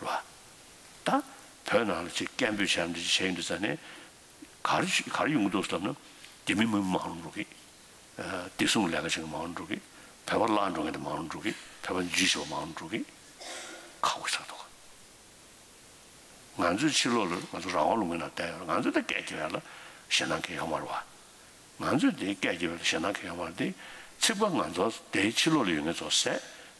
བ། ད་བོད་ནང་ལ་ཆེས་སྐད་འབོད་བྱས་ནས་བྱས་ཡོད་འདུག་ས་ནས་གར་གར་ཡོང་གི་འདུག་བསམ་ན་དེ་མིན་མི་མང་རུང་འགྲོ་གི། བདེ་སྲུང་ལས་ཀ་བྱེད་མཁན་མང་རུང་འགྲོ་གི། བོད་པ་བརླག་འགྲོ་མཁན་དེ་མང་རུང་འགྲོ་གི། བོད་པ་འཇིགས་བྱེད་པ་མང་རུང་འགྲོ་གི། ཁག་པོ་ཆགས་འདུག་ག། ང་ཚོས་ཕྱི་ལོག་ལ་ང་ཚོ་རང་དབང་ལུང་མན་ན་བསྡད་ཡོད་ལ་ང་ཚོས་དེ་སྐད་བགྱི་བས་ལ་ཞེ་སྣང་གི་ཡོག་མ་རེད་བ། ང་ཚོས་དེ་སྐད་བགྱི་བས་ལ་ཞེ་སྣང་གི་ཡོག་མ་རེད་དེ། ཚིག་པ་ང་ཚོ་དེ་ཕྱི་ལོག་ལ་ཡོད་མཁན་ཚོ་ཟད་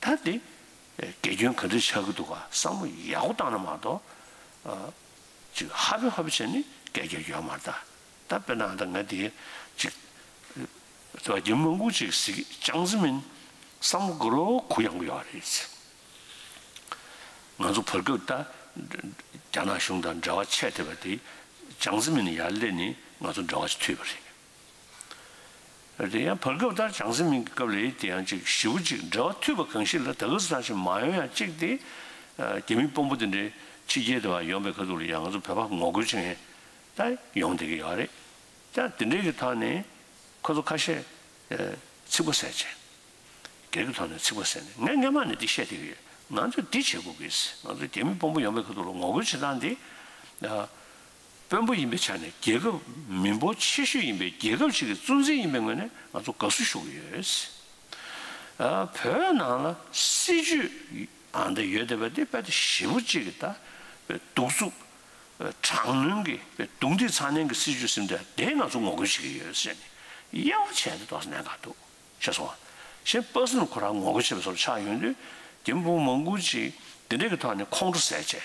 ད་དེ་དགེ་སྐྱོན་ག་འདྲ་ཆགས་ཀྱི་འདུག་ག་བསམ་བློ་ཡག་པོ་བཏང་ན་མ་གཏོགས། ཅིག་ཧ་པེ་ཧ་པེ་བྱས་ནས་སྐད་རྒྱག་རྒྱུ་ཡང་མ་རེད་ད། དཔེར་ན་ད་ང་དེ་ཅིག་ཟེར་བ་རྒྱ་མི་མང་པོ་ཅིག་གཟིགས་ཅང་ཟིན་མིན་བསམ་བློ་དགུ་རོ་གུ་ཡང་གི་ཡོད་རེད་ཟེར། ང་ཚོ་བར་སྐབས་ད་རྒྱ་ནག་གཞུང་དང་འབྲེལ་བ་ཆད་ཐེབས་པ་དེ་ཅང་ཟིན་མིན་ཡར་སླེབས་ནས་ང་ཚོ་འབྲེལ་བ་ཆད་ཐུབ་ཡོད་རེད། དེ་ཡང་བར་སྐབས་ལྟར་བྱང་སེམས་མིང་གི་སྐབས་ལས་དེ་ཡང་གཅིག་བཞི་བོ་གཅིག་འབྲེལ་བ་མཐུད་པ་གང་ཞིག་ལ་ད་གུ་ས་ཐང་ཞིག་མ་ཡོང་ཡང་གཅིག་སྟེ། རྒྱ་མི་དཔོན་པོ་དེ་འདྲའི་ཕྱི་རྒྱལ་དུ་བ་ཡོང་པའི་ཁ་ཐུག་ལ་ཡང་ང་ཚོ་བོད་པ་ངོ་རྒོལ་བྱེད་མཁན་དག་ཡོང་བསྡད་ཀྱི་ཡོད་རེད། ཀྱང་དེ་འདྲའི་གི་ཐང་ནས་ཁོ་ཚོ་ཁ་ཤས་ཚིག་པོ་ཟེར་བྱས། སྒེར་གི་ཐོག་ནས་ཚིག་པོ་ཟེར་ནས་ངས་སྔན་མ་ནས་འདི་བཤད་བསྡད་ཀྱི་ཡོད། ང་ཚོས་འདི་བྱེད་དགོས་ཀྱི། ང་ཚོས་རྒྱ་མི་དཔོན་པོ་ཡོང་པའི་ཁ་ཐུག་ལ་ངོ་རྒོལ་བྱེད་སྟངས་འདི། དཔོན་པོ་ཡིན་པའི་ཆ་ནས་རྒྱལ་ཁབ་མི་འབོར་ཆེ་ཤོས་ཡིན་པའི་རྒྱལ་ཁབ་ཅིག་གི་གཙོ་འཛིན་ཡིན་པའི་ངོས་ནས་ང་ཚོ་དགའ་བསུ་ཞུ་གི་ཡོད། བོད་ནང་ལ་སྲིད་ཇུས་འདི་ཡོད་བསྡད་པ་འདི་དཔེ་ལྟ་ཞིབ་པོ་གཅིག་གིས་ད་བའི་གདུག་རྩུབ། དྲག་གནོན་གྱི་བའི་གདུག་འདི་ཚ་ནན་གྱི་སྲིད་ཇུས་སིམ་འདྲ་དེ་ང་ཚོ་ངོ་རྒོལ་བྱེད་ཀྱི་ཡོད་ཟེར་ནས་གཡེང་བ་བྱས་འདི་དོགས་ཟ་ནན་ག་འདུག་ཤེས་སོང་ང་གཞན་སྤ་སེ་ནས་ཁོ་རང་ངོ་རྒོལ་བྱེད་པ་སོགས་ཆགས་ཡོང་དུས་རྒན་པོ་མང་པོ་ཅིག་འདི་འདྲ་གི་ཐོག་ནས་ཁོང་ཁྲོ་ཟས་བཅད